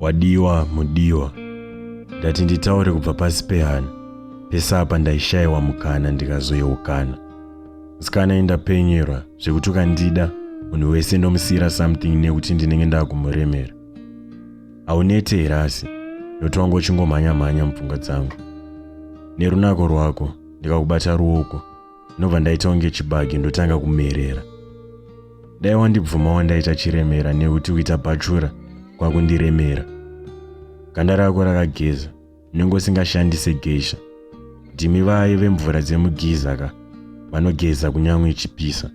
wadiwa mudiwa ndati nditaure kubva pasi pehana pese apa ndaishayiwa mukana ndikazoyeukana musikana indapenyerwa zvekuti ukandida munhu wese ndomusiyira something nekuti ndinenge ndakumuremera haunete here asi noti wangu uchingomhanya mhanya mupfungwa dzangu nerunako rwako ndikakubata ruoko ndobva ndaita kunge chibage ndotanga kumerera dai wandibvuma wandaita chiremera nekuti kuita bhachura kwakundiremera ganda rako rakageza unenge usingashandise geisha ndimi vaye vemvura dzemugiza ka vanogeza kunyange ichipisa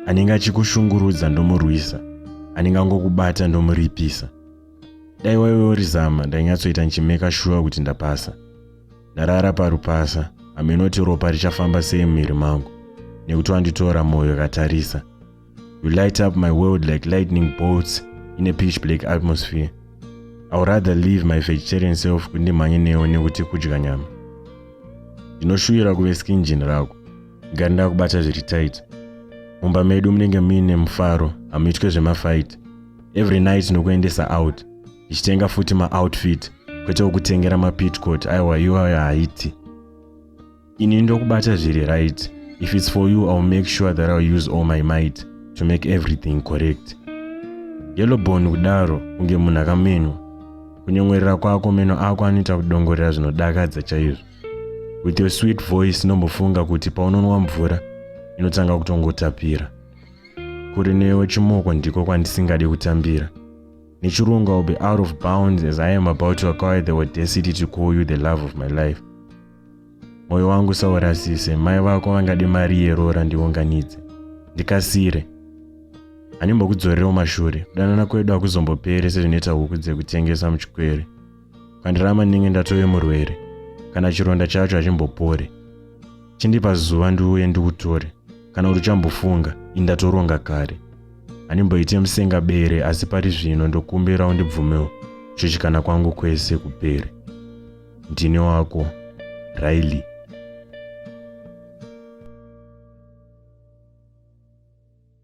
anenge achikushungurudza ndomurwisa anenge angokubata ndomuripisa dai waive urizama ndainyatsoita ndichimeka shuwa kuti ndapasa ndarara parupasa hameno kuti ropa richafamba sei mumiri mangu nekuti wanditora mwoyo akatarisa you light up my world like lightning bolts in a pitch black atmosphere i would rather leave my vegetarian self kuti ndimhanye newo nekuti kudya nyama ndinoshuvira kuve skinjin rako ngari ndakubata zviri tight mumba medu munenge muine mufaro hamuitwe zvemafight every night nokuendesa out ichitenga futi maoutfit kwete wokutengera mapitcot aiwa iwayo haiti ini ndokubata zviri right if its for you iwill make sure that iwill use all my might to make everything correct yellowbone kudaro kunge munhu akamenywa kunyongwerera kwako meno ako anoita kudongorera zvinodakadza chaizvo with your sweet voice nombofunga kuti paunonwa mvura inotanga kutongotapira kuri newe chimoko ndiko kwandisingade kutambira nechirungu ill be out of bounds as i am about to acquire the audacity to call you the love of my life mwoyo wangu saurasise mai vako vangade mari yeroora ndiunganidze ndikasire handimbokudzorera umashure kudanana kwedu hakuzombopere sezvinoita huku dzekutengesa muchikwere kwandirama ndinge ndatove murwere kana chironda chacho hachimbopore chindipa zuva ndiuye ndikutore kana kuti uchambofunga indatoronga kare handimboite musenga bere asi pari zvino ndokumbira undibvumewo kuchuchikana kwangu kwese kupere ndine wako riley